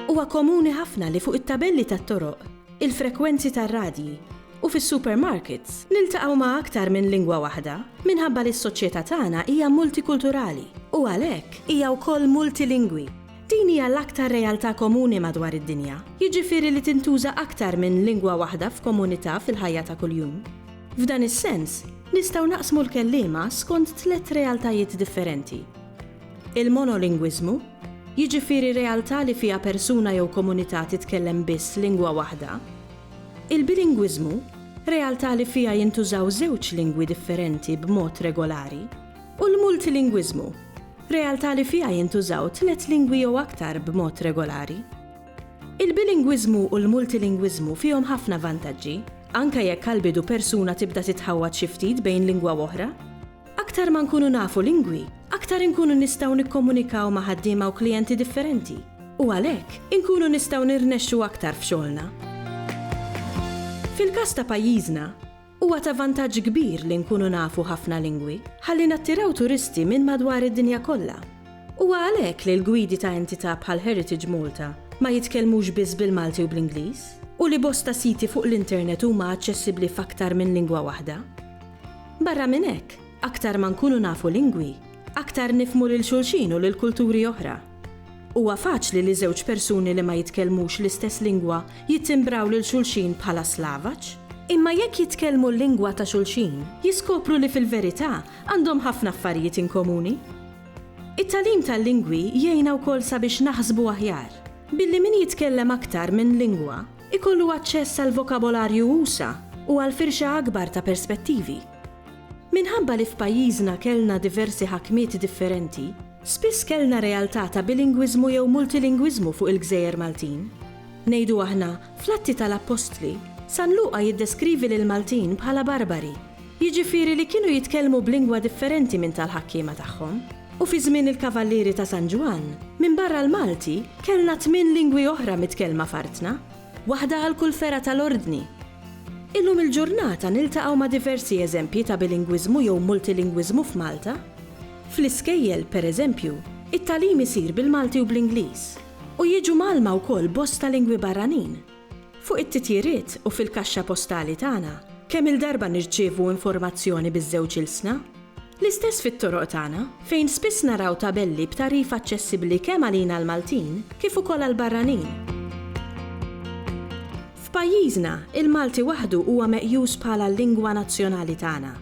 Huwa komuni ħafna li fuq it-tabelli tat-toroq, il-frekwenzi tar-radji, u fis-supermarkets niltaqgħu ma' aktar minn lingwa waħda minħabba li s-soċjetà tagħna hija multikulturali u għalhekk hija wkoll multilingwi. Din hija l-aktar realtà komuni madwar id-dinja, jiġifieri li tintuża aktar minn lingwa waħda f'komunità fil-ħajja ta' kuljum. F'dan is-sens, nistgħu naqsmu l-kelliema skont tliet realtajiet differenti, il-monolingwiżmu, jiġifieri realtà li fiha persuna jew komunità titkellem biss lingwa waħda, il-bilingwiżmu, realtà li fiha jintużaw żewġ lingwi differenti b'mod regolari, u l-multilingwiżmu, realtà li fiha jintużaw tliet lingwi jew aktar b'mod regolari. Il-bilingwiżmu u l-multilingwiżmu fihom ħafna vantaġġi, anke jekk għall-bidu persuna tibda titħawwad xi ftit bejn lingwa u oħra. Aktar ma nkunu nafu lingwi, aktar inkunu nistgħu nikkomunikaw ma' ħaddiema u klijenti differenti, u għalhekk, inkunu nistgħu nirnexxu aktar f'xogħolna. Fil-każ ta' pajjiżna, Huwa ta' vantaġġ kbir li nkunu nafu ħafna lingwi, ħalli nattiraw turisti minn madwar id-dinja kollha. Huwa għalhekk li l-gwidi ta' entità bħal Heritage Malta ma jitkellmux biss bil-Malti u bl-Ingliż, u li bosta siti fuq l-internet huma aċċessibbli f'aktar minn lingwa waħda. Barra minn hekk, aktar ma nkunu nafu lingwi, aktar nifhmu lil xulxin u lil kulturi oħra. Huwa faċli li żewġ persuni li ma jitkellmux l-istess lingwa jittimbraw lil xulxin bħala Slavaċ. Imma jekk jitkellmu l-lingwa ta' xulxin, jiskopru li fil-verità għandhom ħafna affarijiet inkomuni. It-tagħlim tal-lingwi jgħinna wkoll sabiex naħsbu aħjar, billi min jitkellem aktar minn lingwa jkollu aċċess għal vokabolarju usa' u għal firxa akbar ta' perspettivi. Minħabba li f'pajjiżna kellna diversi ħakmiet differenti, Spiss kellna realtà ta' bilingwiżmu jew multilingwiżmu fuq il-gżejjer Maltin. Ngħidu aħna, fl-Atti tal-Appostli, San Luqa jiddeskrivi lill-Maltin bħala barbari, jiġifieri li kienu jitkellmu b'lingwa differenti minn tal-ħakkiema tagħhom. U fi żmien il-Kavallieri ta' San Ġwann, minbarra l-Malti, kellna tmien lingwi oħra mitkellma f'artna, waħda għal kull fergħa tal-Ordni. Illum il-ġurnata niltaqgħu ma' diversi eżempji ta' bilingwiżmu jew multilingwiżmu f'Malta. Fl-iskejjel, per eżempju, it-tagħlim isir bil-Malti u bl-Ingliż, u jiġu mgħallma wkoll bosta lingwi barranin. Fuq it-titjiriet u fil-kaxxa postali tagħna, kemm-il darba nirċievu informazzjoni biż-żewġ ilsna? L-istess fit-toroq tagħna, fejn spiss naraw tabelli b'tagħrif aċċessibbli kemm għalina l-Maltin kif ukoll għall-barranin. F'pajjiżna, il-Malti waħdu huwa meqjus bħala l-lingwa nazzjonali tagħna.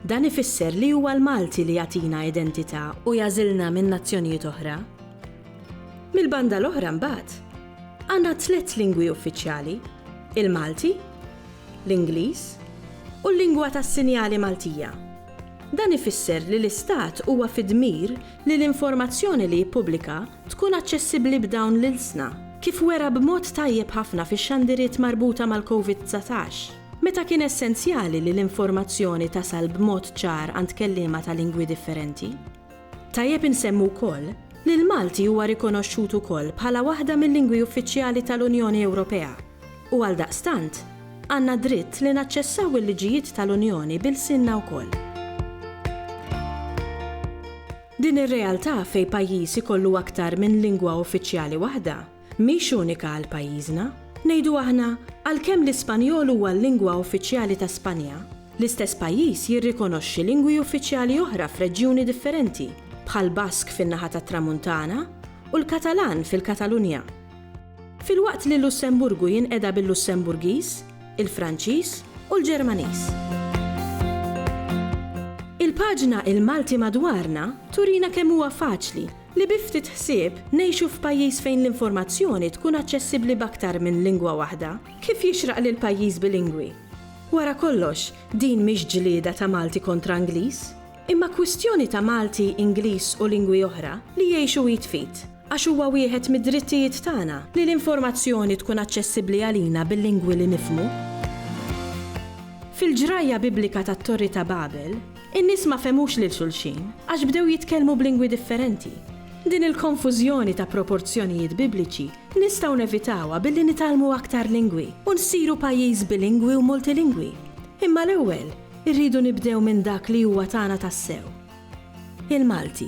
Dan ifisser li huwa l-Malti li jagħtina identità u jagħżilna minn nazzjonijiet oħra. Mill-banda l-oħra mbagħad, għandna tliet lingwi uffiċjali, il-Malti, l-Ingliż u l-lingwa tas-sinjali Maltija. Dan ifisser li l-Istat huwa fi dmir li l-informazzjoni li jippubblika tkun aċċessibbli b'dawn l-ilsna, kif wera b'mod tajjeb ħafna fix-xandiriet marbuta mal-COVID-19. Meta kien essenzjali li l-informazzjoni tasal b'mod ċar għand kelliema ta' lingwi differenti. Tajjeb insemmu wkoll li l-Malti huwa rikonoxxut ukoll bħala waħda mil-lingwi uffiċjali tal-Unjoni Ewropea u għaldaqstant għandna dritt li naċċessaw il-liġijiet tal-Unjoni b'ilsienna wkoll. Din ir-realtà fejn pajjiż ikollu aktar minn lingwa uffiċjali waħda mhix unika għal pajjiżna. Ngħidu aħna, għalkemm l-Ispanjol huwa l-lingwa uffiċjali ta' Spanja, l-istess pajjiż jirrikonoxxi lingwi uffiċjali oħra f'reġjuni differenti, bħall-Bask fin-naħa tat-Tramuntana u l-Katalan fil-Katalunja. Filwaqt li l-Lussemburgu jinqeda bil-Lussemburgiż, il-Franċiż u l-Ġermaniż. Il-paġna Il-Malti Madwarna turina kemm huwa faċli Li bi ftit ħsieb, ngħixu f'pajjiż fejn l-informazzjoni tkun aċċessibbli b'aktar minn lingwa waħda, kif jixraq lil pajjiż bilingwi. Wara kollox, din mhix ġlieda ta' Malti kontra Ingliż, imma kwistjoni ta' Malti, Ingliż u lingwi oħra li jgħixu id f'id, għax huwa wieħed mid-drittijiet tagħna li l-informazzjoni tkun aċċessibbli għalina bil-lingwi li nifhmu. Fil-ġrajja Biblika tat-Torri ta' Babel, In-nies ma fehmux lil xulxin għax bdew jitkellmu b'lingwi differenti. Din il-konfużjoni ta' proporzjonijiet Bibliċi nistgħu nevitawha billi nitgħallmu aktar lingwi u nsiru pajjiż bilingwi u multilingwi. Imma l-ewwel irridu nibdew minn dak li huwa tagħna tassew, il-Malti.